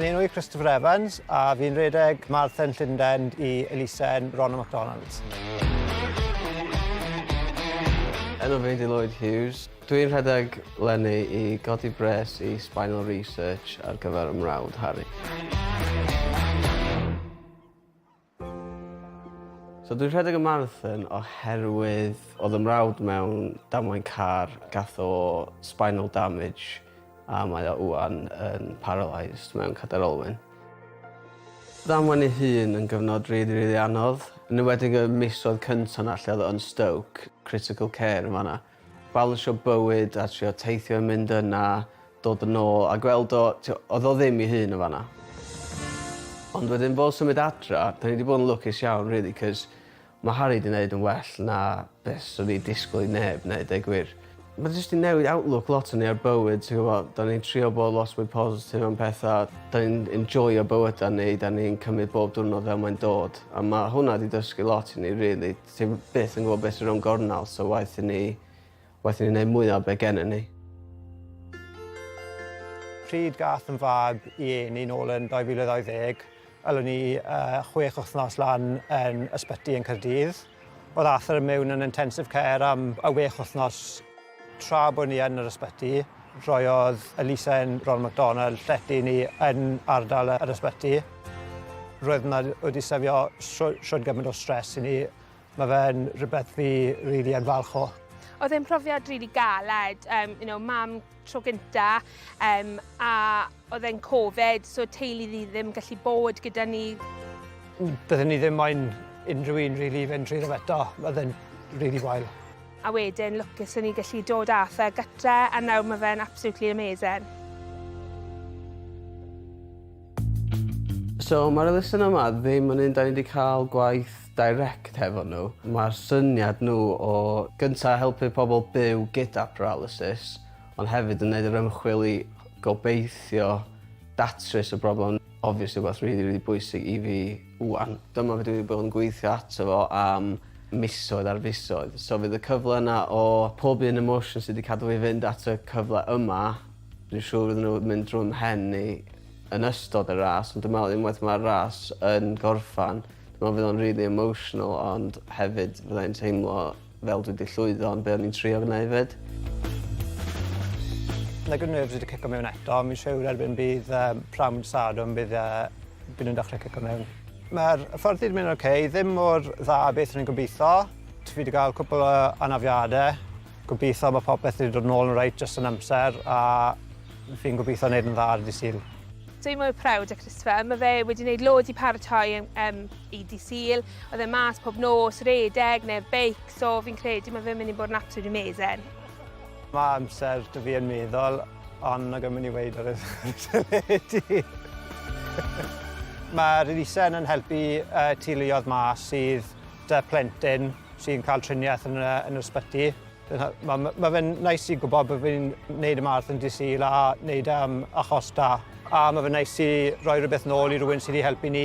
Fy enw i Christopher Evans a fi'n redeg Marathon Llundain i elusen Ronald McDonald. Enw fi ydi Lloyd Hughes. Dwi'n rhedeg lenni i godi bres i Spinal Research ar gyfer 'y mrawd Harri. So dwi'n rhedeg y marathon oherwydd oedd y mrawd mewn damwain car, gath o spinal damage a mae o ŵan yn paralysed mewn cadair olwyn. Damwain ei hun yn gyfnod rili, rili anodd, yn enwedig y misoedd cynta 'na lle oedd o yn Stoke, critical care yn fan'na. Balansio bywyd a trio teithio i mynd yna, dod yn ôl a gweld o, t'o', odd o ddim 'i hun yn fan'na. Ond wedyn fo symud adra, 'dan ni 'di bod yn lwcus iawn rili 'c'os ma' Harri 'di neud yn well na be' swn i disgwl i neb neud deu gwir. Ma' jyst 'di newid outlook lot o ni ar bywyd ti gwbo'? 'Dan ni'n trio bo' lot mwy positif am petha. 'Dan ni'n enjoio bywyda ni 'dan ni'n cymyd bob diwrnod fel mae'n dod a ma' hwnna 'di dysgu lot i ni rili. Ti byth yn gwybod beth sy'n rownd gornel so waeth i ni waeth i ni wneud mwya o be gennym ni. Pryd gath fy mab i eni nôl yn 2020, elon ni yy chwech wythnos lan yn ysbyty yn Caerdydd. O'dd Arthur mewn yn intensive care am y wech wythnos. Tra bod ni yn yr ysbyty, rhoiodd elusen Ronald McDonald llety i ni yn ardal yr ysbyty. Roedd hwnna wedi sefio shwd, shwd gymaint o stres i ni. Mae fe'n rhywbeth fi rili really yn falch o. Oedd e'n profiad rili really galed, um, you know, mam tro gynta, um, a oedd e'n Covid, so teulu ni ddim gallu bod gyda ni. Byddwn ni ddim moyn unrhyw un rili really, fynd trwy ddim eto, oedd e'n rili really wael. A wedyn lwcus o'n i gallu dod â fe gytre a nawr mae fe'n absolutely amazing. So mae'r elusen yma ddim yn un 'da ni 'di cael gwaith direct hefo nhw. Mae'r syniad nhw o gynta' helpu pobl byw gyda paralysis ond hefyd yn neud yr ymchwil i gobeithio datrys y broblem obviously rwbath rili rili bwysig i fi. Ŵan, dyma fi dwi 'di bod yn gweithio ato fo am misoedd ar fisoedd so fydd y cyfle yna o pob un emotion sy 'di cadw fi fynd at y cyfle yma dwi'n siŵr fydden nhw mynd drw'm mhen i yn ystod y ras ond dwi me'wl unwaith ma'r ras yn gorffan dwi me'wl fydd o'n rili emotional ond hefyd fyddai'n teimlo fel dwi 'di llwyddo yn be' o'n i'n trio gneud 'fyd. Like o'n i jyst 'di cico mewn eto. Fi'n siŵr erbyn bydd yym pnawn mynd Sadwrn bydd yy by' nw'n dechre cico mewn. Ma'r hyfforddi'n mynd oce, ddim mor dda a beth o'n i'n gobitho. T- fi 'di ga'l cwpwl o anafiade. Gobitho ma' popeth 'di dod nôl yn reit jyst yn amser a fi'n gobitho neud yn dda ar ddydd Sul. Dwi mor prowd o Christopher. Ma' fe wedi neud loads i paratoi yym i dydd Sul. Oedd e mas pob nos, redeg neu beic, so fi'n credu mae fe'n mynd i bod yn absolutely amazing. Mae amser dy fi yn meddwl, ond nag yn mynd i weid ar y teledu. Mae'r elusen yn helpu uh, teuluoedd ma sydd dy plentyn sy'n cael triniaeth yn, uh, yn yr ysbyty. Mae ma, ma fe'n nais i gwybod bod fi'n neud y marth yn disil a neud am achos da. A mae fe'n nais i roi rhywbeth nôl i rhywun sydd wedi helpu ni